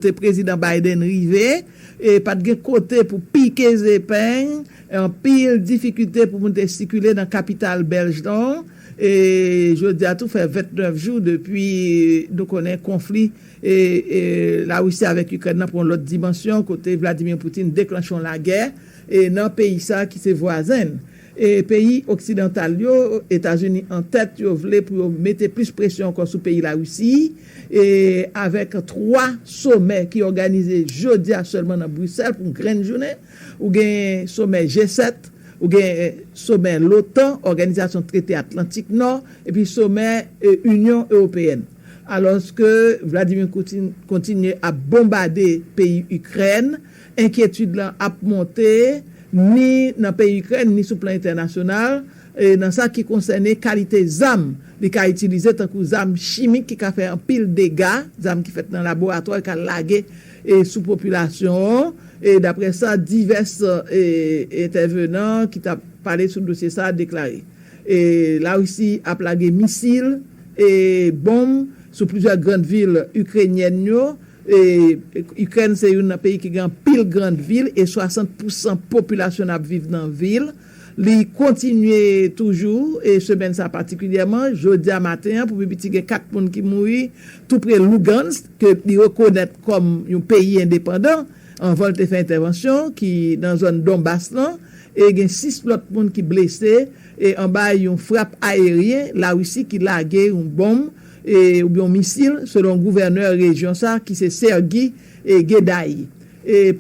Se Prezidan Biden rive, e pat gen kote pou pike zepeng, anpil difikite pou moun te sikile nan kapital Bèlj lan, e jodi a tou fè 29 jou depi nou konnen konfli Larisi avèk Ikrèn nan pran yon lòt dimansyon kote Vladimir Putin deklanche yon lagè nan peyi sa ki se vwazen n. E peyi oksidantal yo, Etazini an tèt, yo vle pou yo mete plis presyon ankò sou peyi Larisi, e avèk 3 somè ki òganize jodi a sèlman nan Brisèl pou yon grenn jounen. Ou gen somè G7, ou gen somè l'OTAN, Òganizasyon Trete Atlantik Nò, epi somè Inyon Ewopeyèn. Alòske Vladimir Putin kontinye ap bonbade peyi Ikrèn. Enkyetid la ap monte ni nan peyi Ikrèn ni sou plan entènasyonal nan sa ki konsène kalite zam li ka itilize tankou zam chimik ki ka fè anpil dega, zam ki fèt nan laboratwa li ka lage sou popilasyon an, daprè sa divès entèvenan ki t ap pale sou dosye sa deklare. Larisi ap lage misil e bonm sou plizyè gran vil ikrenyèn yo. Ikrèn se youn nan peyi ki gen anpil grand vil e 60 pou san popilasyon n ap viv nan vil. Li kontinye toujou e semèn sa patikilyèman, jodi a maten an pou pi piti gen 4 moun ki mouri tou pre Lugansk ke li rekonèt kòm yon peyi endepandan anvan l te fè entèvansyon l ki nan zòn Donbas lan e gen 6 lòt moun ki blese anba yon frap ayeryen Larisi ki lage yon bonm oubyen yon misil, selon gouvènè rejyon sa a ki se Sergyi Gedayi,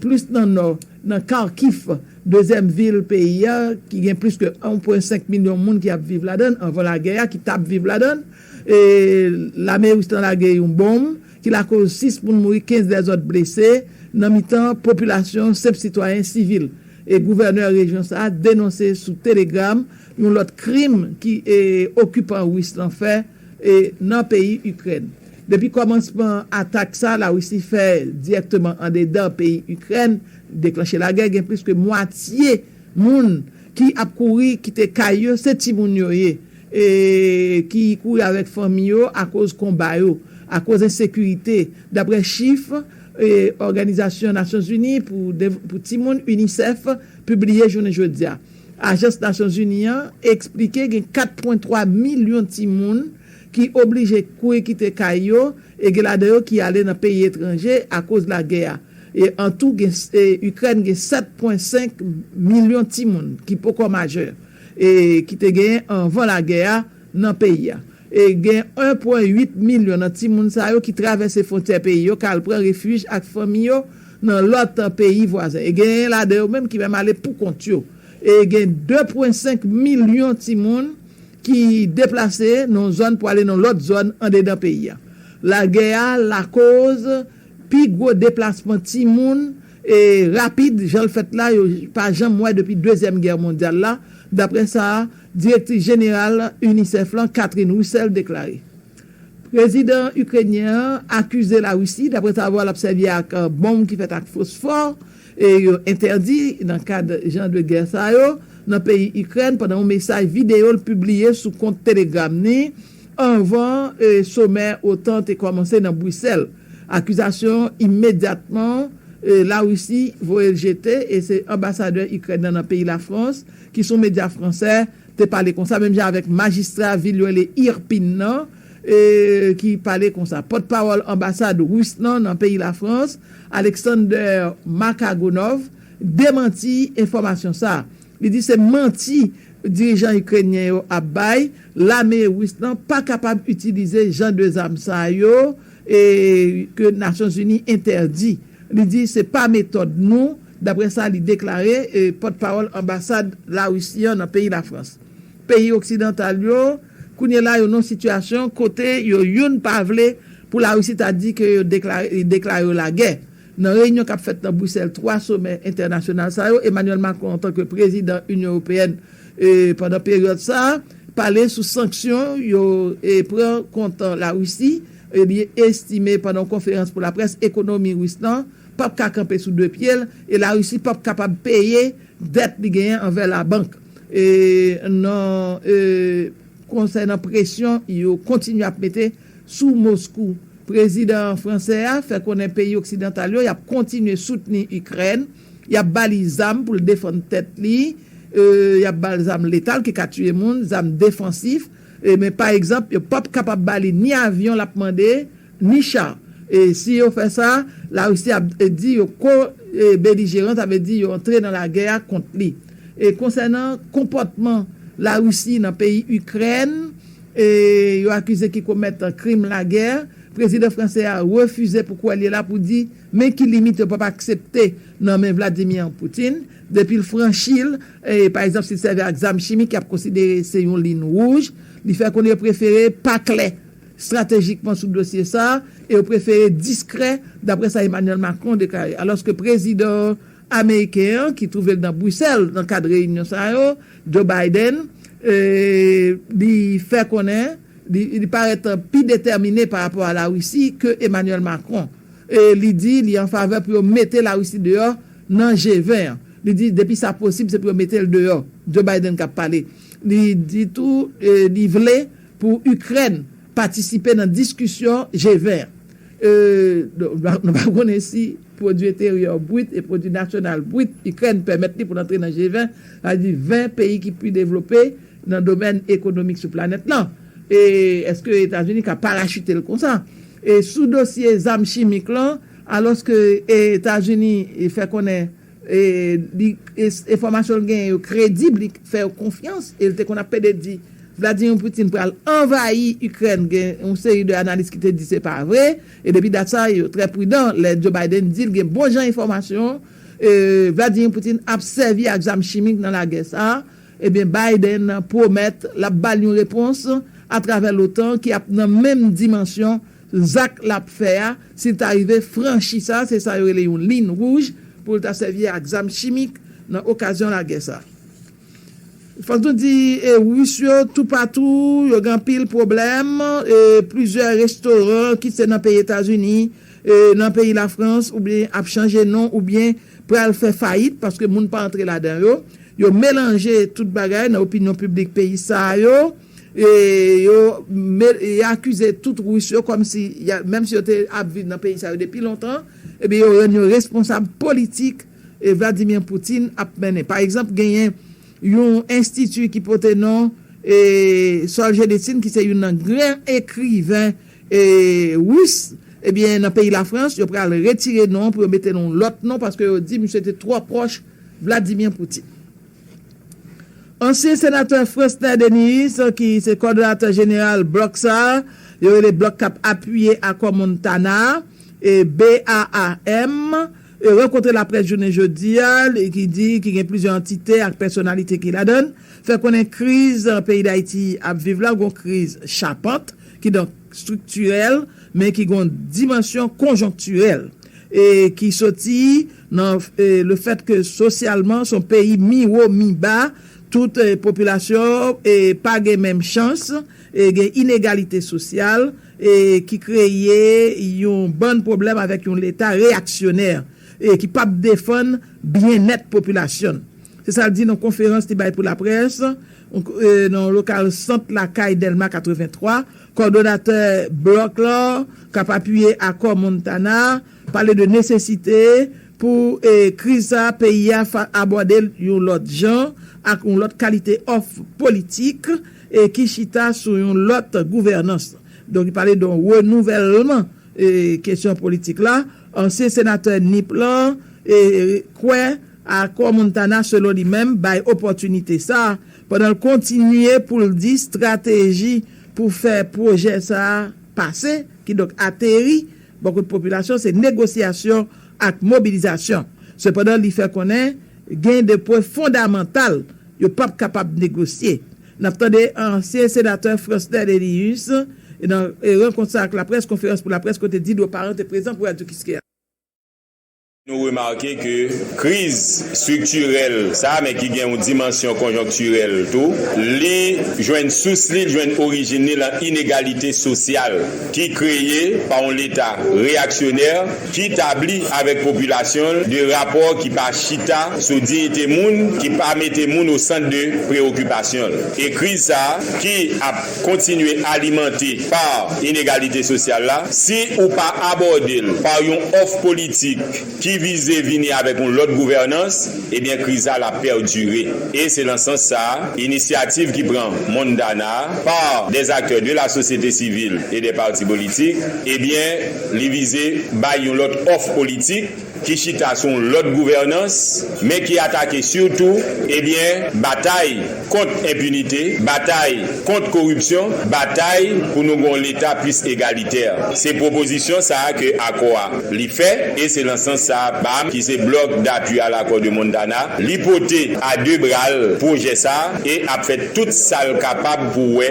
plis nan nò, nan Kharkiv, dezyèm vil peyi a ki gen plis ke 1 pwen 5 milyon moun ki ap viv ladan l, anvan lagè a, ki t ap viv ladan l. Lame ris lan lage yon bonm ki lakoz 6 moun mouri, 15 lèzòt blese nan mitan popilasyon senp sitwayen sivil. Gouvènè rejyon sa a denonse sou Telegram yon lòt krim ki okipan ris lan fè, nan peyi Ikrèn. Depi kòmansman atak sa La Risi fè dirèkteman andedan peyi Ikrèn, deklanche lagè, gen plis ke mwatye moun ki ap kouri kite kay yo, se timoun yo ye, ki kouri avèk fanmi yo akoz konba yo, akoz ensekirite, daprè chif Òganizasyon Nasyonzini pou timoun, UNICEF, pibliye jounen jodi a. Ajans Nasyonzini an eksplike gen 4.3 milyon timoun ki oblije kouri kite kay yo e gen ladan yo ki ale nan peyi etranje akoz lagè a. E an tou gen Ikrèn gen 7.5 milyon timoun ki poko majè e ki te genyen anvan lagè a nan peyi a. E gen 1 pwen 8 milyon nan timoun sa yo ki travèse fwontyè peyi yo kal pran refij ak fanmi yo nan lòt peyi vwazen. E genyen ladan yo menm ki menm ale pou kont yo. E gen 2 pwen 5 milyon timoun ki deplase nan yon zòn pou ale nan yon lòt zòn andedan peyi a. Lagè a lakoz pi gwo deplasman timoun e rapid jan l fèt la yo pa janm wè depi dezyèm gè mondyal la, daprè sa Direktris Jeneral UNICEF lan, Catherine Russell, deklare. Prezidan Ikrenyen an akize Larisi daprèsavwa l ap sèvi ak bonm ki fèt ak fosfò e yo entèdi nan kad jan de gè sa yo nan peyi Ikrèn pandan yon mesaj videyo l pibliye sou kont Telegram ni anvan somè otan te kòmanse nan Brisèl. Akizasyon an imedyatman Larisi voye l jete e se anbasadè Ikrèn nan nan peyi Lafrans, ki son medya fransè, te pale konsa, menm jan avèk majistra vil yo rele Irpin nan, ki pale konsa. Pòtpawòl anbasad ris lan nan peyi Lafrans, Alexander Makagonov, demanti enfòmasyon sa a. Li di se manti dirijan ikrenyen yo ap bay, lame ris lan pa kapab itilize jan de zam sa yo ke Nasyonzini entèdi. Li di se pa metòd nou dapre sa li deklare pòtpawòl anbasad Larisi an nan peyi Lafrans. Peyi oksidantal yo kounye la yo nan yon sitiyasyon kote yo youn pa vle pou Larisi ta di ke yo li deklare yo lagè. Nan reyinyon k ap fèt nan Brisèl 3 somè entènasyonal sa yo, Emmanuel Macron antanke prezidan Inyon Ewopeyèn pandan peryòd sa a pale sou sanksyon yo pran kont Larisi, li estime pandan yon konferans pou laprès ekonomi Ris lan pap ka kanpe sou 2 pye l e Larisi pap kapab peye dèt li genyen anvè labank e nan e konsènan presyon yo kontinye ap mete sou Moskou. Prezidan fransè a fè konnen peyi oksidantal yo yap kontinye soutni Ikrèn, yap ba li zam pou l defann tèt li e yap ba l zam letal ki ka tiye moun, zam defansif e men pa egzanp yo pap kapab ba li ni avyon lap mande, Misha, E si yo fè sa, Larisi ap di yo ko-belijeran, sa vle di yo antre nan lagè a kont li. E konsènan konpòtman Larisi nan peyi Ikrèn, yo akize ki komèt krim lagè, prezidan fransè a refize pou kwè li la pou di men ki limit yo pap aksepte nan men Vladimir Putin, depi l franchi l, pa egzanp si l sèvi ak zam chimik y ap konsidere se yon lin wouj, li fè konnen yo prefere pa klè. stratejikman sou dosye sa a e yo prefere diskrè, dapre sa Emmanuel Macron deklare. Alòske prezidan ameriken an, ki twouve l nan Brusèl nan kad reyinyon sa yo, Joe Biden, li fè konnen li parèt pi detèmine pa rapò a Larisi ke Emmanuel Macron e li di li an favè pou yo mete Larisi deyò nan G20 an. Li di depi sa posib se pou yo mete l deyò. Joe Biden k ap pale. Li di tou li vle Pou Ikrèn patisipe nan diskisyon G20 an. Euu nou pa konnen si pwodui enteryè brit e pwodui nasyonal brit Ikrèn pèmèt li pou l antre nan G20, sa vle di 20 peyi ki pi devlope nan domèn ekonomik sou planèt lan. E èske Etazini ka parachute l konsa? E sou dosye zam chimik lan, alòske Etazini fè konnen. li enfòmasyon l genyen yo kredib, li fè yo konfyans e l te konn ap pede di Vladimir Putin pral anvayi Ikrèn gen yon seri de analis ki te di se pa vre e depi dat sa yo trè pridan lè Joe Biden di l gen bon jan enfòmasyon Vladimir Putin ap sèvi ak zam chimik nan lagè sa ebyen Biden pwomèt l ap ba l yon repons atravè l'OTAN ki ap nan menm dimansyon Zak l ap fè a, si l ta rive franchi sa, se sa yo rele yon lin wouj pou l ta sèvi ak zam chimik nan okazyon lagè sa. Fòk nou di Ris yo toupatou, yo gen anpil pwoblèm, plizyè restoran kit se nan peyi Etazini, nan peyi Lafrans oubyen ap chanje non oubyen pral fè fayit paske moun pa antre ladan yo. Yo melanje tout bagay nan opinyon piblik peyi sa yo. Yo akize tout Ris yo kòm si, menm si yo te ap viv nan peyi sa yo depi lontan, ebyen yo rann yo responsab politik Vladimir Putin ap mennen. Pa egzanp, genyen yon enstiti ki pote non Solzhenitsyn ki se youn nan gran ekriven Ris, ebyen nan peyi Lafrans yo pral retire non pou yo mete l yon lòt non paske yo di misye te twò pwòch Vladimir Putin. Ansyen senatè Francner Denys ki se kòdonatè jeneral blòk sa a, yo rele blòk k ap apiye akò Montana a, BAAM, rankontre laprès jounen jodi a, ki di ki gen plizyè antite ak pèsonalite ki ladan l, fè konnen kriz peyi Dayiti ap viv la, gon kriz chapant, kidonk striktirèl, men ki gon dimansyon konjonktirèl, e ki soti. Nan le fèt ke sosyalman son peyi mi wo mi ba, tout popilasyon e pa gen menm chans, e gen inegalite sosyal, e ki kreye yon bann pwoblèm avèk yon leta reyaksyonè, e ki pap defann byennèt popilasyon n. Se sa l di nan konferans li bay pou laprès nan lokal Sant lakay Dèlma 83, kòdonatè blòk lan k ap apiye akò Montana, Pale de nesesite pou kriz sa a peyi a abòde l yon lòt jan, ak yon lòt kalite òf politik ki chita sou yon lòt gouvènans. Donk li pale de yon renouvèlman kesyon politik la. Ansyen senatè Nip lan kwè akò Montana selon li menm bay opòtinite sa, pandan l kontinye pou l di strateji pou fè pwojè sa pase, kidonk ateri, Bò kote popilasyon se negosyasyon ak mobilizasyon. Sepandan li fè konnen gen 2 pwen fondamantal yo pap kapab negosye. N ap tande ansyen senatè Fransner Délius nan rankont sa ak laprès, konferans pou laprès kote Didro Parent te prezan pou Radio Kiskeya. Nou remake ke kriz striktirèl sa a, men ki gen yon dimansyon konjonktirèl tou, li jwenn sous li, li jwenn orijin li lan inegalite sosyal ki kreye pa yon Leta reyaksyonè ki tabli avèk popilasyon l de rapò ki pa chita sou diyite moun, ki pa mete moun osant de preyokipasyon l. E kriz sa a ki ap. kontinye alimante pa inegalite sosyal la, si ou pa abòde l pa yon òf politik ki vize vini avèk yon lòt gouvènans, ebyen kriz la la pèdire. E se lan sans sa a, inisyativ ki pran Mondana a pa dè zaktè de la sosyete sivil e dè pati politik, ebyen li vize bay yon lòt òf politik, ki chita sou yon lòt gouvènans, men ki atake sitou, ebyen, batay kont enpinite, batay kont koripsyon, batay pou nou gen yon Leta plis egalitè. Se pwopozisyon sa a ke akò a li fè, e se lan sans sa a BAM, ki se Bloc d'Appui à l'Accord de Montana, li pote a de bra l pwojè sa a e ap fè tout sa l kapab pou wè,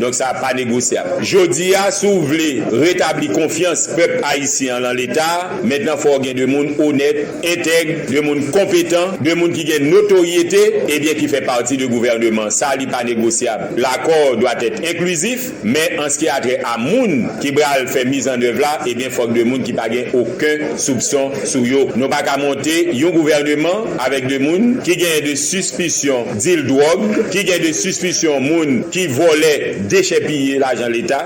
Donk sa pa negosyab. Jodi a, si w vle retabli konfyans pèp ayisyen an lan Leta a, mentnan fò w gen 2 moun onèt, entèg, 2 moun konpetan, 2 moun ki gen notoryete, ebyen ki fè pati de gouvèneman sa li pa negosyab. Lakò doit être inclusif, men an ski a trè a moun ki bral fè mizannèv la, ebyen fòk 2 moun ki pa gen oken soupson sou yo. Nou pa ka monte yon gouvèneman avèk 2 moun ki genyen de sispisyon. dil dwòg, ki gen de sispisyon moun ki vòlè, dechèpiye lajan leta,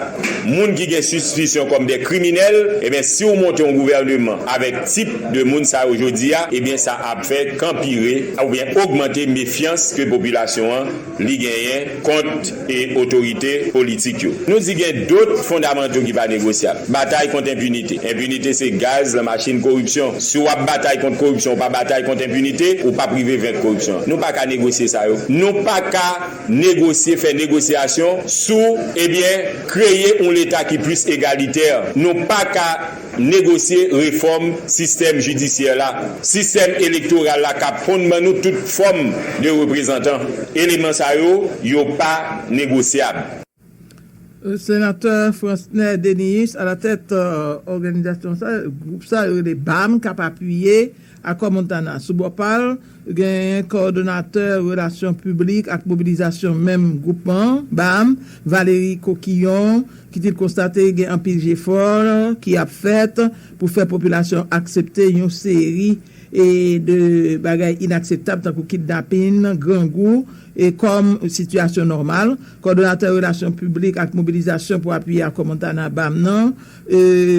moun ki gen sispisyon kòm de kriminèl, ebyen si w monte yon gouvèneman avèk tip de moun sa yo jodi a, ebyen sa ap fè k anpire oubyen ogmante mefyans ke popilasyon an li genyen kont. e otorite politik yo. Nou di gen dot fondamanto ki pa negosyab. Batay kont enpinite. Enpinite se gaz lan machin koripsyon. Si w ap batay kont koripsyon, ou pa batay kont enpinite, ou p ap rive venk koripsyon an. Nou pa ka negosye sa yo. Nou pa ka negosye, fè negosyasyon sou, ebyen, kreye yon leta ki plis egalitè. Nou pa ka negosye refòm sistèm jidisyè la, sistèm elektoral la kap konn ban nou tout fòm de reprezantan. Eleman sa yo, yo pa negosyab. Senatè Fransner Dénéus alatèt òganizasyon sa, gwoup sa yo rele bam kap apiye. Akò Montana, sou bò pa l, genyen kowòdonatè relasyon piblik ak mobilizasyon menm gwoupman an, bam, Valery Coquillon, ki di l konstate gen anpil jefò ki ap fèt pou fè popilasyon an aksepte yon seri de bagay inakseptab tankou kidnapin, grangou, kòm sitiyasyon nòmal. Kowòdonatè relasyon piblik ak mobilizasyon pou apiye Akò Montana, bam, nan.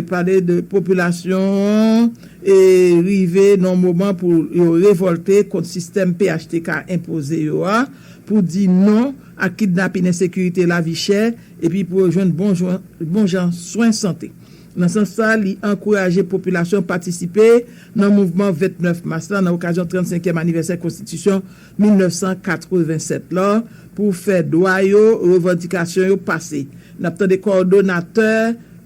pale de popilasyon an e rive nan yon moman pou yo revòlte kont sistèm phtk enpoze yo a, pou di non ak kidnapin ensekirite lavi chè epi pou yo jwenn bon jan swen sante. Nan sans sa, li ankouraje popilasyon patisipe nan mouvman 29 mas la nan okazyon 35 èm anivèsè konstitisyon 1987 la pou fè dwa yo, revandikasyon yo pase. N ap tande kòdonatè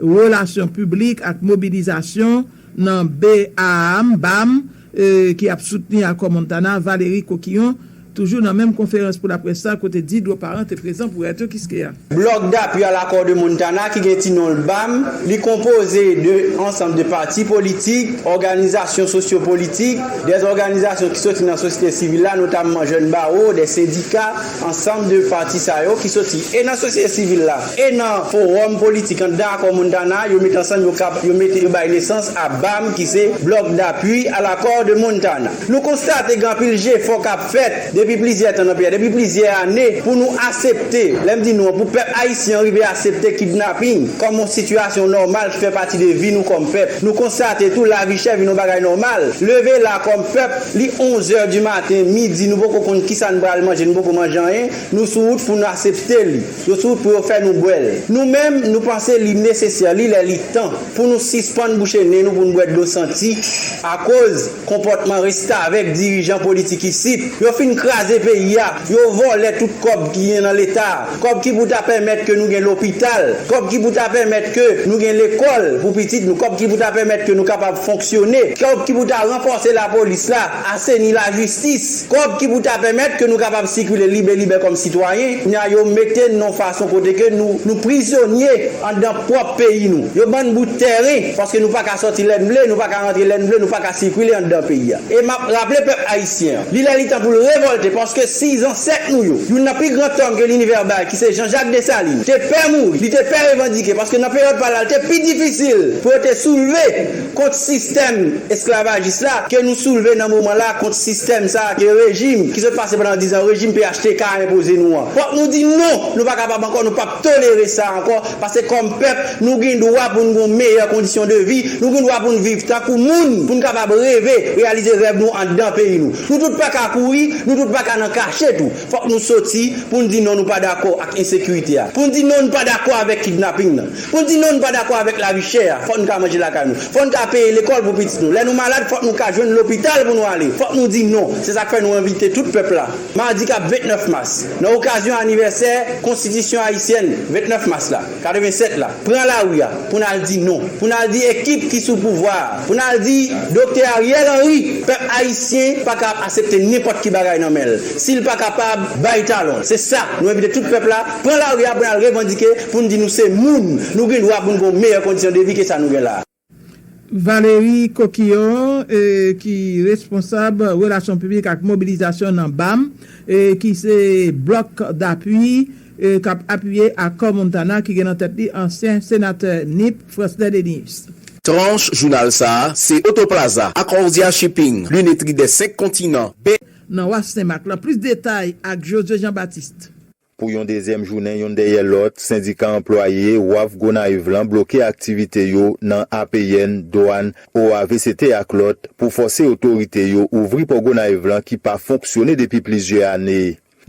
relasyon piblik ak mobilizasyon nan BAAM, baam, ki ap soutni akò Montana, Valery Coquillon, toujou nan menm konferans pou laprès sa kote Didro Parent te prezan pou Radio Kiskeya. Bloc d'appui à l'accord de Montana ki gen ti non l bam li konpoze de ansanm de pati politik, òganizasyon sosyopolitik, de òganizasyon ki soti nan sosyete sivil la notamman jèn bawo, de sendika, ansanm de pati sa yo ki soti e nan sosyete sivil la e nan fowòm politik anndan Accord Montana yo met ansanm yo kab yo mete yo bay nesans a bam ki se Bloc d'appui à l'accord de Montana. Nou konstate gen anpil jefò k ap fèt depi plizyè tan nan peyi a, depi plizyè ane pou nou asepte, lè m di nou an, pou pèp ayisyen an rive asepte kidnaping kòm yon sitiyasyon nòmal ki fè pati de vi nou kòm pèp. Nou konstate tou lavi chè vin yon bagay nòmal. Leve la kòm pèp, li onzè di maten, midi, nou poko konn kisa n pral manje, nou poko manje anyen, nou sou wout pou nou asepte li. Yo sou wout pou yo fè nou bwè l. Nou menm, nou panse li nesesè, li lè li tan pou nou sispann bouche nen nou pou n bwè dlo santi akoz. Konpòtman restavèk dirijan politik isit, yo fin kraze peyi a, yo vòlè tout kòb ki gen nan leta, kòb ki pou ta pèmèt ke nou gen lopital, kòb ki pou ta pèmèt ke nou gen lekòl pou pitit nou, kòb ki pou ta pèmèt ke nou kapab fonksyone, kòb ki pou ta ranfòse lapolis la, aseni lajistis. Kòb ki pou ta pèmèt ke nou kapab sikile libe libè kòm sitwayen, kounye a yo mete n yon fason kote ke nou nou prizonye anndan pwòp peyi nou. Yo ban n bout tèren, paske nou pa ka sòti lè n vle, nou pa ka rantre lè n vle, nou pa ka sikile anndan peyi a. E m ap raple pèp ayisyen an, li lè li tan pou l revòlte, paske si zansèt nou yo, youn nan pi gran tòg ke linivè bay, ki se Janjak Desalin, te pè mouri, li te pè revandike, paske nan peryòd pa l la, li te pi difisil pou yo te soulve, kont sistèm esklavajis la ke nou soulve nan moman la, kont sistèm sa a ke rejim ki sot pase pandan dizan, rejim phtk a enpoze nou an. Fòk nou di non! Nou pa kapab ankò, nou pap tolere sa ankò, pase kòm pèp, nou gen dwa pou n gon meyè kondisyon de vi, nou gen dwa pou n viv tankou moun, pou n kapab reve, reyalize rèv nou anndan peyi nou. Nou tout pa ka kouri, nou tout pa ka nan kache tou. Fòk nou soti pou n di non nou pa dakò ak ensekirite a, pou n di non n pa dakò avèk kidnaping nan. Pou n di non n pa dakò avèk lavi chè a, fòk n ka manje lakay nou. Fòk n ka peye lekòl pou pitit nou. Lè nou malad, fòk nou ka jwenn lopital pou nou ale. Fòk nou di non. Se sa k fè nou envite tout pèp la, madi k ap 29 mas, nan okazyon anivèsè Konstitisyon ayisyèn 29 mas la, 87 la, pran lari a pou n al di non. Pou n al di ekip ki sou pouvwa a, pou n al di Doktè Ariel Henry, pèp ayisyen pa ka ap asepte nenpòt ki bagay nan men l, si l pa kapab bay talon l. Se sa nou envite tout pèp la, pran lari a pou n al revandike. Pou n di nou se moun, nou gen dwa pou n gen yon meyè kondisyon de vi ke sa nou gen la. Valerie Coquillon ki responsab relasyon piblik ak mobilizasyon nan bam, ki se Bloc d'appui k ap apiye Akò Montana ki gen nan tèt li ansyen senatè Nip, Franchnè Denys. Tranche jounal sa a se Auto Plaza, Accordia Shipping, Lunetterie des 5 continents, Be. Nan Wa Sen Mak lan. Plis detay ak Josue Jean Baptiste. Pou yon dezyèm jounen youn dèyè lòt, sendika anplwaye waf Gonayiv lan bloke aktivite yo nan APN, Dwàn, OAVCT ak lòt pou fòse otorite yo ouvri pò Gonayiv lan ki pa fonksyone depi plizyè ane.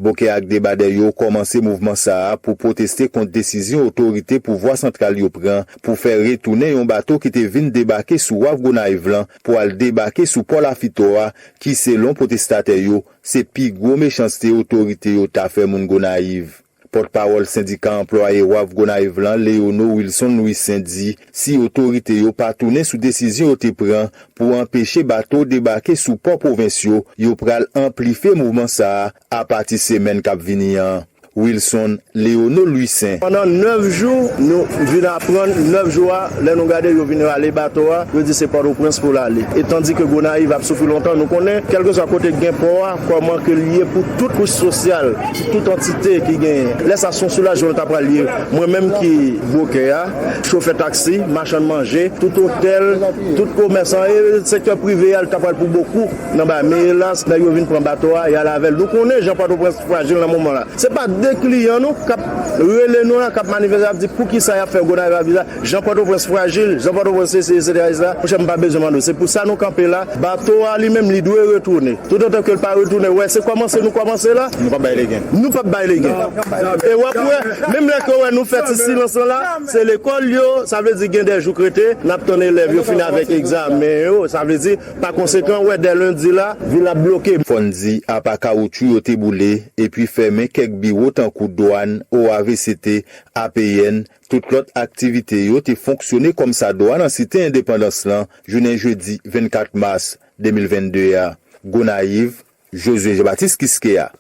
Bokè ak Debadè yo kòmanse mouvman sa a pou pwoteste kont desizyon otorite pouvwa santral yo pran pou fè retounen yon bato ki te vin debake sou waf Gonayiv lan pou al debake sou pò Lafitò a ki selon pwotestatè yo Se pi gwo mechanste otorite yo ta fè moun Gonayiv. Pòtpawòl sendika anplwaye wharf Gonayiv lan Léono Wilson Louissaint di si otorite yo pa tounen sou desizyon yo te pran pou anpeche bato debake sou pò pwovens yo, yo pral anplife mouvman sa a apati semèn k ap vini an. Wilson Léono Louissaint. Pandan 9 jou, nou vin aprann 9 jou a, lè nou gade yo vin rale bato a, yo di se Pòtoprens pou l ale. E tandike Gonayiv ap soufri lontan, nou konnen kèlkeswa kote k gen pò a, kòman ke l ye pou tout kouch sosyal, pou tout antite ki genyen. Lè sa son soulajman l ta pral ye. Mwen menm ki bwokè a, chofè taksi, machann manje, tout otèl, tout komèsan e sektè prive a l ta pral pou bokou. Nan ba men elas nèg yo vin pran bato a yal avèl nou konnen jan pòtoprens frajil nan moman la se pa de kliyan nou kap rele nou la kap manifeste ap di poukisa yap fè gonayiv la jan pòtoprens frajil jan pòtoprens sesi etc etc monchè m pa bezwen mande w se pou sa nou kanpe la bato a li menm li dwe retounen tout otan kel pa retounen wè se kòmanse nou kòmanse la nou pap bay legen nou pap bay legen e wap wè menm lè ke w wè nou fè ti silans lan la se lekòl yo sa vle di gen de jouk rete nap tann elèv yo fin avèk egzamen yo sa vle di. Pa konsekan, wè dè lendi la, vil la ap bloke. Fò n di, apa kawoutchou yo te boule epi fèmen kèk biwo tankou dwàn, OAVCT, APN, tout lòt aktivite yo te fonksyone kòmsadwa nan Site Endepandans lan jounen jedi 24 mas 2022 a. Gonayiv, Josué Jean-Baptiste Quisqueya.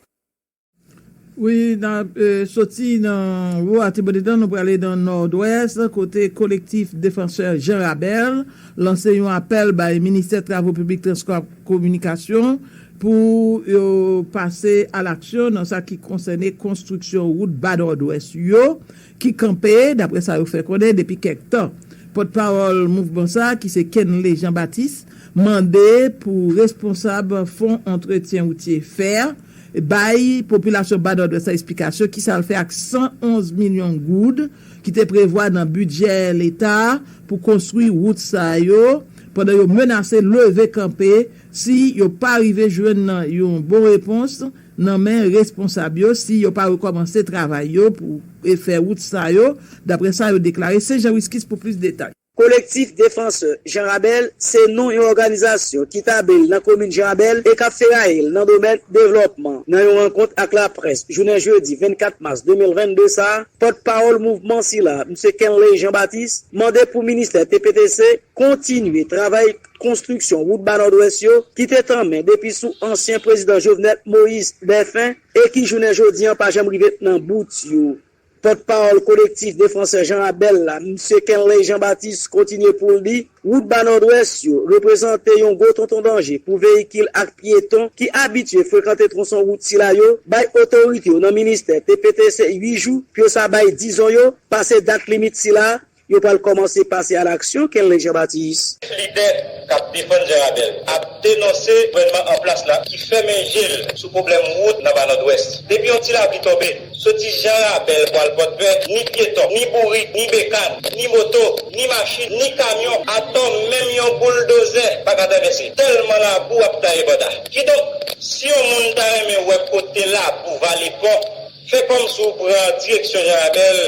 Wi, n ap soti nan Wo Atibodedan, nou prale nan Nòdwès, kote Kolektif Defansè Jan Rabèl lanse yon apèl bay Ministè Travo Piblik Transpò ak Kominikasyon pou yo pase alaksyon nan sa ki konsène konstriksyon wout Ba Nòdwès yo, ki kanpe, daprè sa yo fè konnen depi kèk tan. Pòtpawòl mouvman sa a ki se Kenley Jean Baptiste mande pou responsab fon antretyen woutye, fer, bay popilasyon ba Nòdwès la esplikasyon ki sa l fè ak 111 milyon goud ki te prevwa nan bidjè leta pou konstwi wout sa yo pandan yo menase leve kanpe si yo pa rive jwenn yon bon repons nan men responsab yo si yo pa rekòmanse travay yo pou refè wout sa yo, daprè sa yo deklare. Se Jean Wisquis pou plis detay. Collectif Défenseurs Jean Rabel se non yon òganizasyon ki tabli l nan komin Jean Rabel e k ap feraye l nan domèn devlòpman. Nan yon rankont ak laprès jounen jedi 24 mas 2022 sa, pòt pawòl mouvman sila, Msye Kenley Jean Baptiste, mande pou ministè TPTC kontinye travay konstriksyon wout Ba Nòdwès yo ki te tanmen depi sou ansyen prezidan Jovenel Moïse dèfen e ki jounen jodi an pa janm rive nan bout yo. Pòt pawòl Kolektif Defansè Jan Abèl la, msye Kenley Jean Baptiste kontinye pou l di, wout Ba Nòdwès yo reprezante yon gwo tonton danje pou veyikil ak pyeton ki abitye frekante twonson wout sila yo, bay otorite yo nan ministè TPTC 8 jou pou yo sa bay dizon yo, pase dat limit sila. Yo pral kòmanse pase a laksyon, Kenley Jean Baptiste. Lidè k ap defann Janrabèl ap denonse gouvènman anplas la ki fèmen je l sou pwoblèm wout nan Ba Nòdwès. Depi yon ti lapli tonbe, soti Janrabèl pou al Pòdpè, ni pyeton, ni bourik, ni bekàn, ni moto, ni machin, ni kamyon, atò menm yon bouldozè pa ka travèse, tèlman labou ap taye banda. Kidonk, si yon moun ta renmen wè kote labou vale pon, fè kòmsi w pran direksyon Janrabèl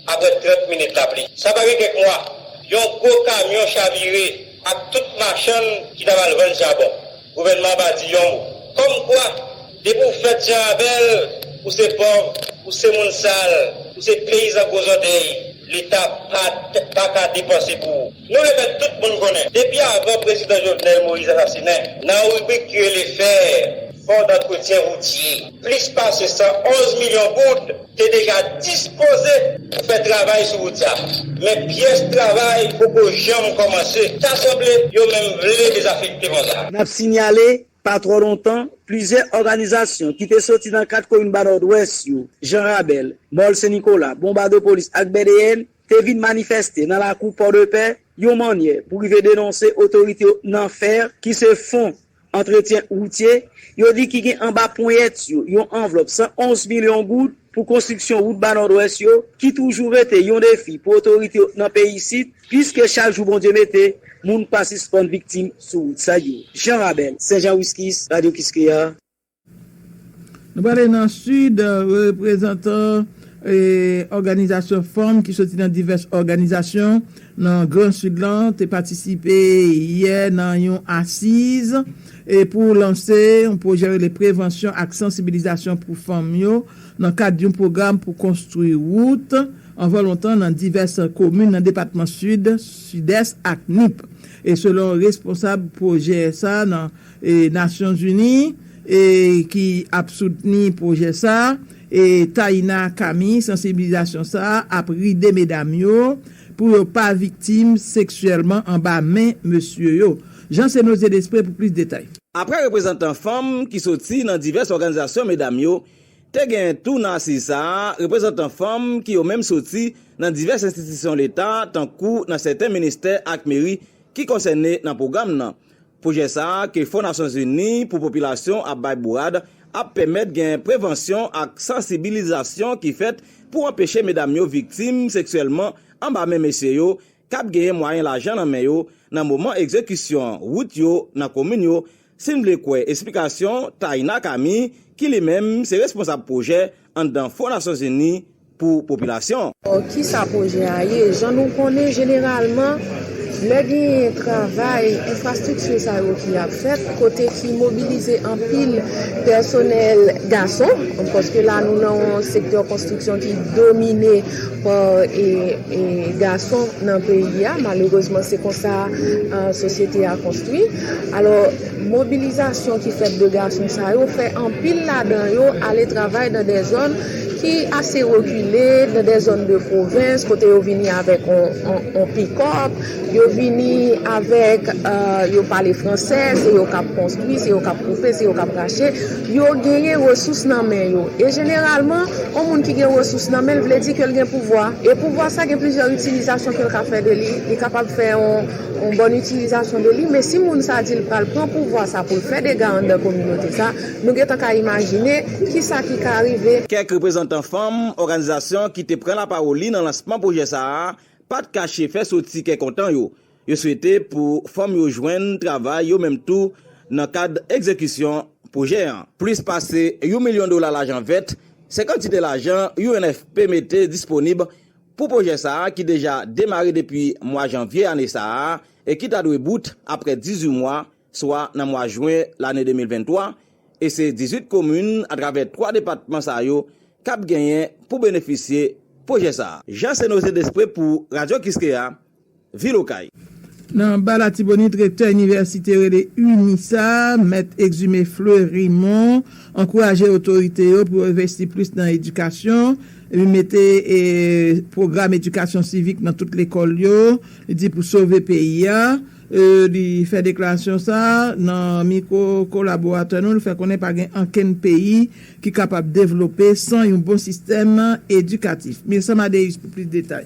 Aprè 30 minit lapli. Sa pa gen kèk mwa, yon gwo kamyon chavire ak tout machann ki t ap al vann chabon. Gouvènman an pa di yon mo. Kòmkwa, depi ou fèt jan Abèl, ou se pòv, ou se moun sal, ou se peyizan gwo zòtèy, Leta pa t, pa ka depanse pou ou. Nou remèt tout moun konnen, depi avan prezidan Jovenel Moïse asasinen, nan ribrik ki rele fè fon dantretyen woutye, plis pase 111 milyon goud te deja dispoze pou fè travay sou wout sa. Men pyès travay poko janm kòmanse. Ta sanble yo menm vle dezafekte fon sa. N ap sinyale, pa twò lontan, plizyè òganizasyon ki te soti nan 4 komin Ba Nòdwès yo, Jan Rabèl, Mòl Sen Nikola, Bonbadopolis ak Bèdeyèn, te vin manifèste nan lakou Pòdepè yon mannyè pou rive denonse otorite yo nan fè ki se fon antretyen woutye yo di ki gen anba ponyèt yo yon anvlòp 111 milyon goud pou konstriksyon wout Ba Nòdwès yo ki toujou rete yon defi pou otorite yo nan peyi Sid piske chak jou Bondye mete moun pa sispann viktim sou wout sa yo Jean Rabel, Senjan Wiscis, Radio Kiskeya. Nou prale nan Sid, reprezantan òganizasyon fanm ki soti nan divès òganizasyon nan gran Sid lan te patisipe yè nan yon asiz pou lanse yon pwojè rele Prevansyon ak Sansibilizasyon pou Fanm yo nan kad yon pwogram pou konstwi wout anvan lontan nan divès komin nan depatman Sid, Sidès ak Nip, selon responsab pwojè sa nan. Nasyonzini ki ap soutni pwojè sa a, Taina Kami, Sansibilizasyon sa a ap ride medam yo pou yo pa viktim seksyèlman anba men mesye yo. Jean Sénosé Desprez pou plis detay. Aprè reprezantan fanm ki soti nan divès òganizasyon medam yo, te genyen tou nan asiz sa a reprezantan fanm ki yo menm soti nan divès enstitisyon leta tankou nan sèten ministè ak meri ki konsène nan pwogram nan. Pwojè sa a ke Fon Nasyon Zini pou Popilasyon ap bay bourad ap pèmèt gen prevansyon ak sansibilizasyon ki fèt pou anpeche medam yo viktim seksyèlman anba men mesye yo k ap genyen mwayen lajan nan men yo nan moman egzekisyon wout yo nan komin yo, si n vle kwè esplikasyon Taina Camille ki li menm se responsab pwojè anndan fo Nasyon Zini pou popilasyon. Ki sa pwojè a ye? Jan nou konnen jeneralman lè genyen travay enfrastrikti sa yo ki ap fèt kote ki mobilize anpil pèsonèl gason paske la nou nan yon sektè konstriksyon ki domine pa gason nan peyi a malerezman se konsa sosyete a konstwi alò Mobilizasyon ki fèt de gason sa yo fè anpil ladan yo ale travay nan de zòn ki ase rekile, nan de zòn de pwovens kote yo vini avèk on pikòp, yo vini avèk, yo pale fransè, se yo k ap konstwi, se yo k ap koupe, se yo k ap rache, yo genyen resous nan men yo. E jeneralman, on moun ki gen resous nan men l vle di ke l gen pouvwa. E pouvwa sa gen plizyè itilizasyon ke l ka fè de li. Li kapab fè on. yon bòn itilizasyon de li men si moun sa di l pral pran pouvwa sa pou l fè dega anndan kominote sa nou gentan ka imajine kisa ki ka rive. Kèk reprezantan fanm òganizasyon ki te pran lapawoli nan lansman pwojè sa a pa t kache fè soti kè kontan yo, yo swete pou fanm yo jwenn travay yo menm tou nan kad egzekisyon pwojè an. Plis pase yon milyon dola lajan vèt se kantite lajan UNFP mete disponib Pou pwojè sa a ki deja demare depi mwa janvye ane sa a e ki ta dwe bout aprè 18 mwa, swa nan mwa jwen lane 2023, e se 18 komin atravè 3 depatman sa yo k ap genyen pou benefisye pwojè sa. Jean Cenoze Despre pou Radio Kiskeya, vil Okay. Nan ba Latibonit, rektè inivèsite rele ini sa, mèt Exumé Fleurimon, ankouraje otorite yo pou yo envesti plis nan edikasyon, epi mete pwogram edikasyon sivik nan tout lekòl yo, li di pou sove peyi a. Li fè deklarasyon sa nan mikwo kolaboratè nou, li fè konnen pa gen ankenn peyi ki kapab devlope san yon bon sistèm edikatif. Mircea Madeus pou plis detay.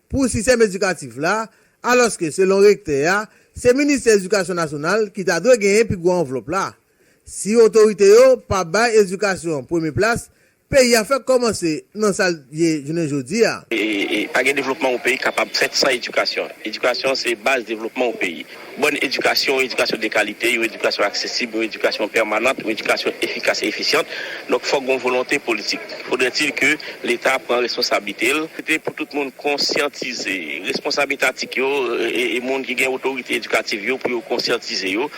pou sistèm edikatif la, alòske selon rektè a, se ministè edikasyon nasyonal ki ta dwe genyen pi gwo anvlòp la. Si otorite yo pa bay edikasyon premye plas, peyi a fèk kòmanse nan sa l ye jounen jodi a. Pa gen devlopman yon peyi kapab fèt san edikasyon. Edikasyon se baz devlopman yon peyi. Bòn edikasyon, yon edikasyon de kalite, yon edikasyon aksesib, yon edikasyon pèmanant, yon edikasyon efikas e efisyant, donk fòk gon volonte politik. Faudrait-il que Leta pran responsablite l. Se te pou tout moun konsyantize, responsab etatik yo e moun ki gen otorite edikativ yo, pou yo konsyantize yo,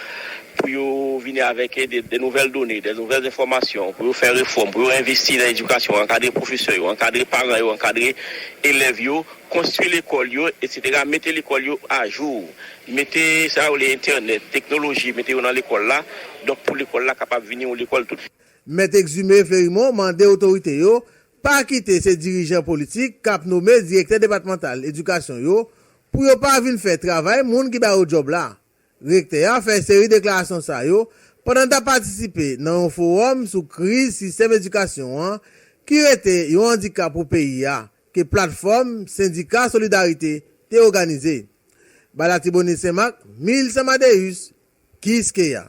pou yo vini avèk de nouvèl done, de nouvèl enfòmasyon, pou yo fè refòm, pou yo envesti nan edikasyon, ankadre pwofesè yo, ankadre paran yo, ankadre elèv yo, Konstwi lekòl yo, etsetera, mete lekòl yo ajou, mete sa yo rele entènèt, teknoloji, mete yo nan lekòl la, donk pou lekòl la kapab vini yon lekòl tout. Mèt Exumé Phérimont mande otorite yo pa kite se dirijan politik kap nome direktè depatmantal edikasyon yo pou yo pa vin fè travay moun ki ba yo djòb la. Rektè a fè seri deklarasyon sa yo pandan l t ap patisipe nan yon fowòm sou kriz sistèm edikasyon an ki rete yon andikap pou peyi a ke Platfòm Sendika Solidarite te oganize bay Latibonit Senmak Mil San Madeus Kiskeya.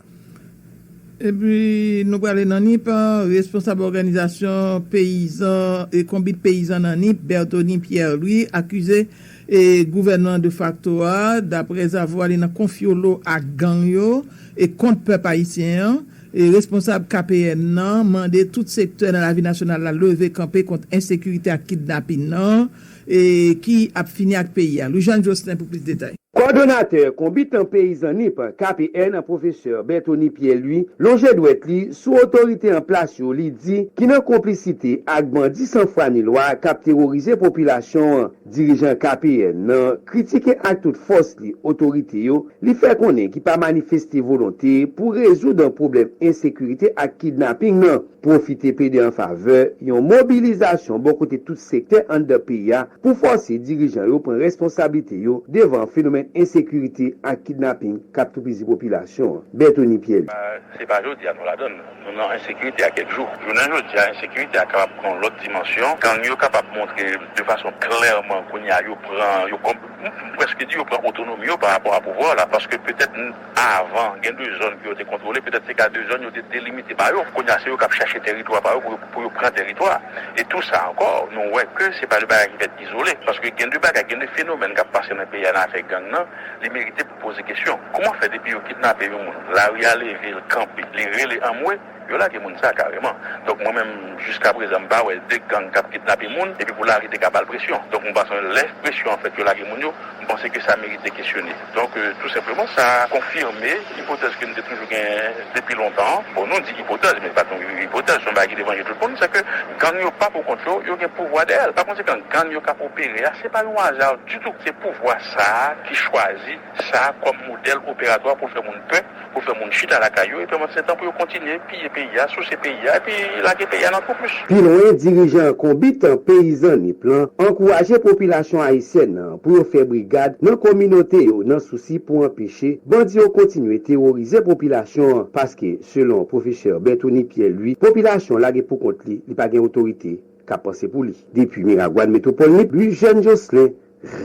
Epi nou prale nan Nip, responsab òganizasyon peyizan e konbit peyizan nan Nip, Berthony Pierre Louis akize e gouvènman de fakto a daprèzavwa li nan konfyolo ak gang yo e kont pèp ayisyen an e responsab KPN nan mande tout sektè nan lavi nasyonal la leve kanpe kont ensekirite ak kidnapin nan e ki ap fini ak peyi a Louis-Jean Jocelin pou plis detay. Kòdonatè konbitan peyizan nip KPN an pwofesè Berthony Pierre Louis lonje dwèt li sou otorite an plas yo li di ki nan konplisite ak bandi san fwa ni lwa kap teworize popilasyon an. Dirijan KPN nan kritike ak tout fòs li otorite yo li fè konnen ki pa manifeste volonte pou rezoud pwoblèm ensekirite ak kidnaping nan, pwofite plede an favè yon mobilizasyon bò kote tout sektè anndan peyi a pou fòse dirijan yo pran responsablite yo devan fenomèn ensekirite ak kidnaping k ap toupizi popilasyon an. Berthony Pierre. Se pa jodi a nou ladann. Nou nan ensekirite a kèk jou. Jounen jodi a, ensekirite a kapab pran yon lòt dimansyon. Gang yo kapab montre de fason klèman kounye a yo pran, yo kon, m prèske di yo pran otonomi yo parapò a pouvwa w la. Paske petèt avan, gen de zòn ke yo te kontwole, petèt se ka de zòn yo te delimite pa yo. Kounye a, se yo k ap chache tèritwa pa yo pou yo, pou yo pran tèritwa a. E tou sa ankò, nou wè ke se pa de bagay ki fèt izole. Paske gen de bagay, gen de fenomèn k ap pase nan peyi a nan afè gang nan, li merite. Poze kesyon kouman fè depi yo kidnape yon moun lari a leve l kanpe li rele anmwe yo lage moun sa kareman donk mwen menm jiska prezan m pa wè 2 gang kap kidnape moun epi pou lari te ka bal presyon donk m panse lè presyon an fèt yo lage moun yo m panse ke sa merite kesyone donk tou senpleman sa konfime ipotèz ke m te toujou gen depi lontan an bon nou di ipotèz men li pat yon ipotèz se yon bagay ki devan je tout moun se ke gang yo pa pou kont yo yo gen pouvwa dèyè l pa konsekan gang yo kap opere a se pa yon aza ditou se pouvwa sa. ki chwazi sa kòm modèl operatwa pou fè moun pè, pou fè moun chita lakay yo, epi anmdsetan pou yo kontinye piye peyi a, souse peyi a, epi lage peyi a nan twou plis. Pi lwen, dirijan Konbit Peyizan Nip lan ankouraje popilasyon ayisyèn nan pou yo fè brigad nan kominote yo nan sousi pou anpeche bandi yo kontinye teworize popilasyon an paske, selon pwofesè Berthony Pierre Louis, popilasyon lage poukont li, li pa gen otorite k ap panse pou li. Depi Miragwàn, Metwopòl Nip, Louis Jeune Jocelin,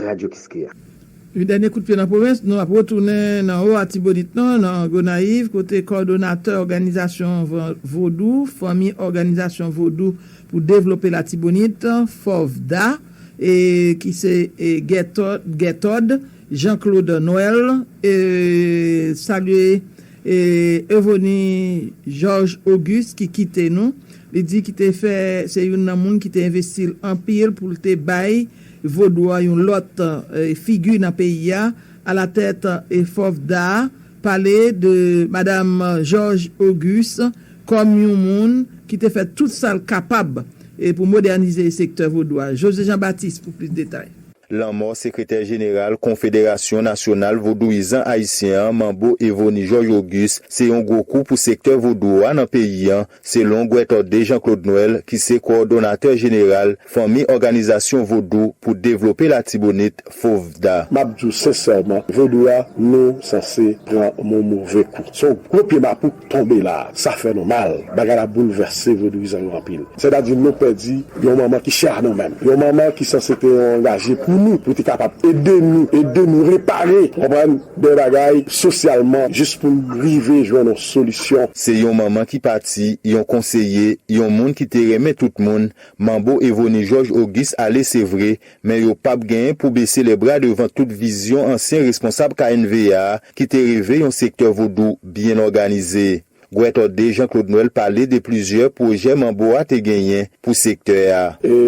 Radyo Kiskeya. Yon dènye kout pye nan pwovens, nou ap retounen nan Wo Atibonit nan, nan Gonayiv, kote kòdonatè òganizasyon vodou, Fanmi Òganizasyon Vodou pou Devlope Latibonit, FOVDA, ki se Guertord Jean Claude Noël, salye Euvonie Georges Auguste ki kite nou, li di ki te fè se youn nan moun ki te envesti l anpil pou l te bay. Vodou a yon lòt figi nan peyi a alatèt FOFDA pale de Madam Georges Auguste kòm yon moun ki te fè tout sa l kapab pou modènize sektè vodou a. José Jean Baptiste pou plis detay. Lanmò sekretè jeneral Konfederasyon nasyonal vodouyizan ayisyen an, Manbo Evony Georges Auguste, se yon gwo kou pou sektè vodou a nan peyi an, selon Guetorde Jean Claude Noël ki se kowòdonatè jeneral Fanmi Òganizasyon Vodou pou Devlope Latibonit, FOVDA. M ap di w sensèman, vodou a nou sanse pran yon move kou. Se yon gwo pye mapou k tonbe la a. Sa fè nou mal. Bagay la boulvèse vodouyizan yo anpil. Sètadi nou pèdi yon manman ki chè a nou menm. Yon manman ki sanse te yon angaje pou nou, pou te kapab ede nou, ede nou repare, w konprann? Bèl bagay, sosyalman, jis pou n rive jwenn yon solisyon. Se yon manman ki pati, yon konseye, yon moun ki te renmen tout moun, Manbo Evony Georges Auguste ale se vre, men yo pap genyen pou bese lè bra devan tout vizyon ansyen responsab KNVA ki te reve yon sektè vodou byen òganize. Gwètò 2 Jean Claude Noël pale de plizyè pwojè Manbo a te genyen pou sektè a.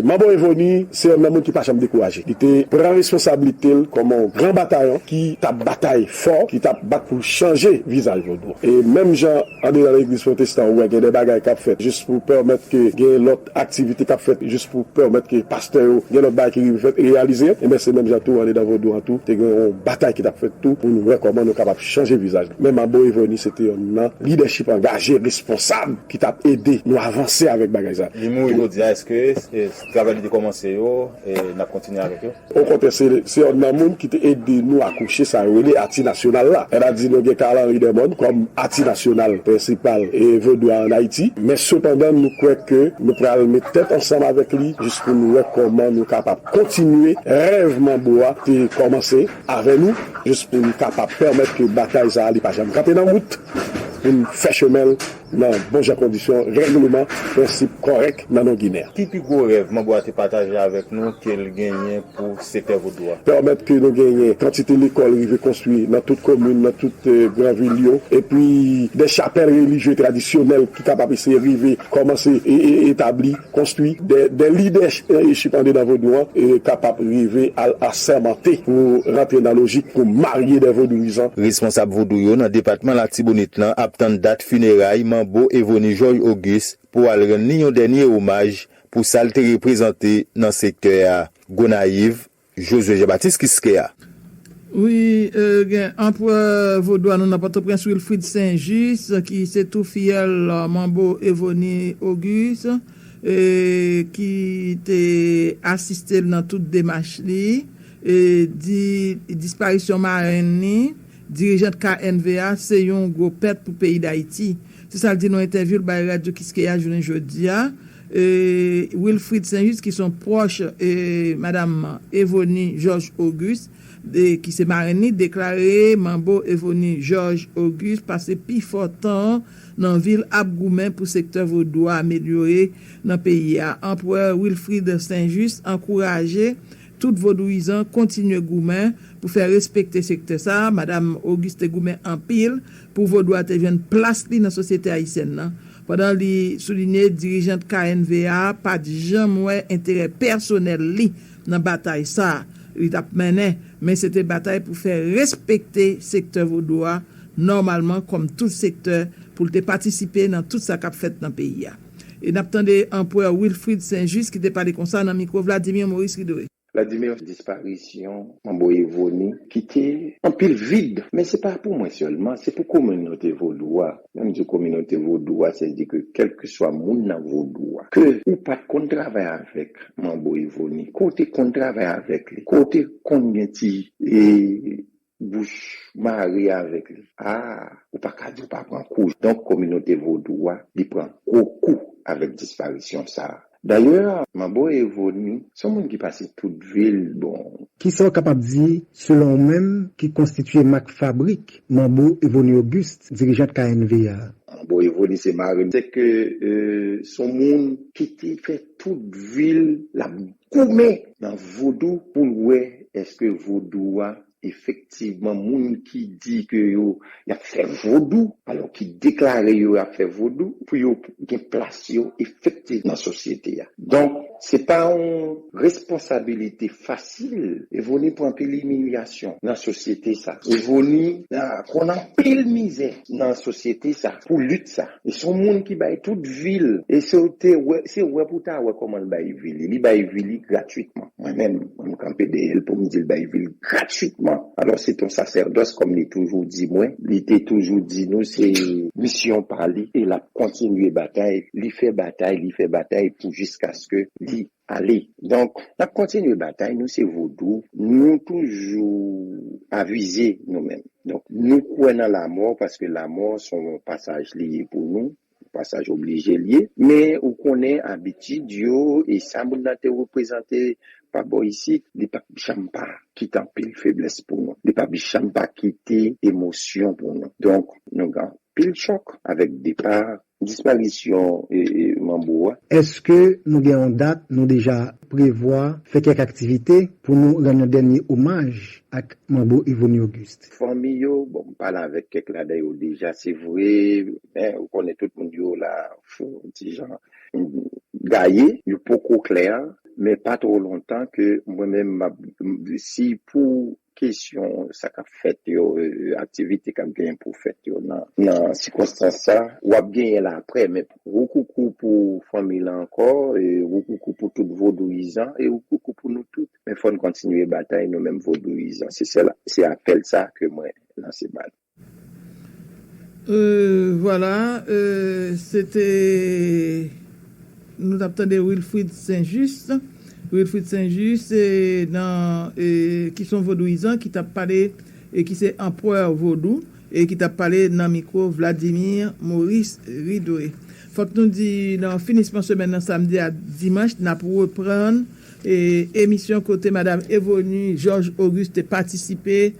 Manbo Evoni se yonn nan moun ki pa janm dekouraje. Li te pran responsablite l kòm yon gran batayon ki t ap batay fò, ki t ap bat pou l chanje vizaj Vodou. E menm jan andedan legliz pwotestan ou wè gen de bagay k ap fèt jis pou pèmèt ke gen lòt aktivite kap fèt jis pou pèmèt ke pastè yo gen lòt bagay ki rive fèt, reyalize, enben se menm jan tou andedan vodou an tou te gen yon batay ki tap fèt tou pou nou wè kòman nou kapab chanje vizaj la men Manbo Evony se te yon nan lidèchip angaje responsab ki tap ede nou avanse avèk bagay sa. Li mouri jodi a, eske travay li te kòmanse yo nap kontinye avèk yo? Okontrè se yonn nan moun ki te ede nou akouche sa yo rele Ati Nasyonal la. Mwen pa di nou gen Carl Henri Dermon kòm Ati Nasyonal prensipal Vodou a an Ayiti, men sepandan nou kwè ke nou pral met tèt ansanm avèk li jis pou nou wè kòman nou kapab kontinye rèv Manbo a te kòmanse avè nou jis pou nou kapab pèmèt ke batay sa a li pa janm kanpe nan wout pou n fè chemen l nan bon jan kondisyon règleman prensip kòrèk nan non Ginen an. Ki pi gwo rèv manbo a te pataje avèk nou ke l genyen pou sektè Vodou a? Pèmèt ke nou genyen kantite lekòl rive konstwi nan tout komin, nan tout gran vil yo, epi de chapèl relijye tradisyonèl ki kapab eseye rive kòmanse etabli. Konstwi de lidèchip andedan vodou an kapab rive al asèmante pou rantre nan lojik pou marye de vodouyizan. Responsab vodou yo nan depatman Latibonit lan ap tann dat fineray manbo Evony Georges Auguste pou al rann li yon dènye omaj pou sa l te reprezante nan sektè a. Gonayiv, Josué Jean Baptiste Kiskeya. Wi, gen anprè vodou a nou nan Pòtoprens Wilfrid Saint Juste ki se tou fiyèl Manbo Evony Auguste ki te asiste l nan tout demach li, di disparisyon marenn li Dirijant KNVA se yon gwo pèt pou peyi Dayiti, se sa l di nan yon entèvyou l bay Radyo Kiskeya jounen jodi a. Wilfrid Sainjust ki se yon pwòch madam Evonie Georges Auguste ki se marenn li deklare manbo Evonie Georges Auguste pase pi fò tan an nan vil ap goumen pou sektè vodou a amelyore nan peyi a. Anprè Wilfrid Sainjust ankouraje Tout vodouyizan kontinye goumen pou fè respekte sektè sa a. Madam Auguste goumen anpil pou vodou a te jwenn plas li nan sosyete ayisyèn nan, pandan li soulinye dirijant KNV a pa t janm wè enterè pèsonèl li nan batay sa a li t ap mennen, men se te batay pou fè respekte sektè vodou a nòmalman kòm tout sektè, pou l te patisipe nan tout sa k ap fèt nan peyi a. E n ap tande Anpwè Wilfrid Saint Juste ki te pale konsa nan mikwo Vladimir Maurice Ridole. Vladimir, disparisyon Manbo Evoni kite anpil vid, men se pa pou mwen sèlman, se pou kominote vodou a. Lè m di kominote vodou a, se di ke kèlkeswa moun nan vodou a, ke ou pa t konn travay avèk Manbo Evoni, ke w te konn travay avèk li, ke w te konn gen ti. Bouch mare avèk li. Aah ou pa ka di ou pa pran kou. Donk kominote vodou a li pran gwo kou avèk disparisyon sa. Dayè Manbo Evoni s on moun ki pase tout vi l bon. Kisa w kapab di selon ou menm ki konstitye mak fabrik Manbo Evoni Auguste dirijant KNV a? Manbo Evoni se mare m. Sèke s on moun ki te fè tout vi l l ap goumen nan vodou poul wè eske vodou a efektivman moun ki di ke yo yap fè vodou alò ki deklare yo ap fè vodou pou yo gen plas yo efektiv nan sosyete a donk se pa yon responsabilite fasil Evoni pran anpil imilyasyon nan sosyete sa Evoni konn anpil mizè nan sosyete sa pou lit sa. E son moun ki bay tout vi l. E se w te wè, se wè pou w ta wè kòman l bay vi li. Li bay vi li gratwitman. Mwen menm, mwen m kanpe dèyè l pou m di l bay vi l gratwitman. Alò se ton sasèdòs kòm li toujou di mwen. Li te toujou di nou se misyon pa li e l ap kontinye batay. Li fè batay, li fè batay pou jiskaske li Ale donk nap kontinye batay nou se vodou nou toujou avize nou menm donk nou kwè nan lamò paske lamò son pasaj li ye pou nou pasaj oblije li ye men ou konnen abitid yo e sa moun nan te reprezante pa bò isit li pap janm pa kite anpil feblès pou nou li pap janm pa kite emosyon pou nou donk nou gen anpil chòk avèk depa Disparisyon Manbo a. Èske nou gen yon dat nou deja prevwa fè kèk aktivite pou nou rann yon dènye omaj ak Manbo Evony Auguste? Fanmi yo, bon m pale avèk kèk ladan yo deja se vre, men ou konnen tout moun yo la fon yon ti jan gaye, yo poko klè, men pa twò lontan ke mwen menm m ap, si pou Kesyon sa k ap fèt yo, aktivite k ap genyen pou fèt yo nan sikonstans sa, w ap genyen l aprè. Men woukoukou pou fanmi lan ankò, woukoukou pou tout vodouyizan e woukoukou pou nou tout. Men fò n kontinye batay nou menm vodouyizan. Se sèl, se apèl sa ke mwen lanse ba nou. Vwala se te nou t ap tande Wilfrid Saint Juste Wilfrid Saint Juste ki son vodouyizan ki t ap pale e ki se anpwè vodou e ki t ap pale nan mikwo Vladimir Maurice Ridoé Fòk nou di nan finisman semèn nan samdi ak dimanch n ap reprann Emisyon kote Madam Evony George Auguste te patisipe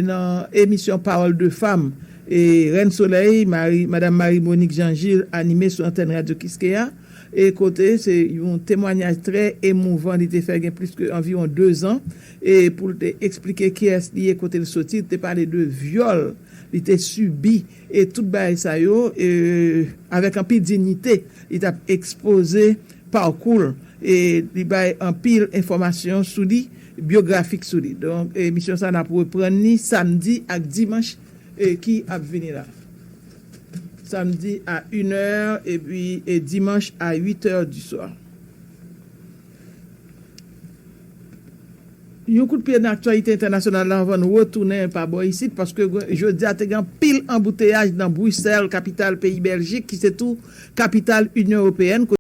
nan emisyon Parole de femme Reine Soleil, Madam Marie Monique Jean Gilles anime sou antèn Radyo Kiskeya e kote se yon temwanyaj trè emouvan li te fè gen plis ke anviwon 2 zan e pou l te eksplike kiyès li ye, kote l soti, li te pale de vyòl li te sibi. E tout bagay sa yo, e avèk anpil dignite li t ap ekspoze parkou l e li bay anpil enfòmasyon sou li, biografik sou li. Donk emisyon sa n ap reprann li samdi ak dimanch ki ap vini la. Samdi a in è epi dimanch a uit è di swa. Yon kout pye nan aktyalite entènasyonal la anvan nou retounen pa bò isit paske jodi a te gen anpil anbouteyaj nan Bruxelles kapital peyi Bèljik ki se tou kapital Inyon Ewopeyèn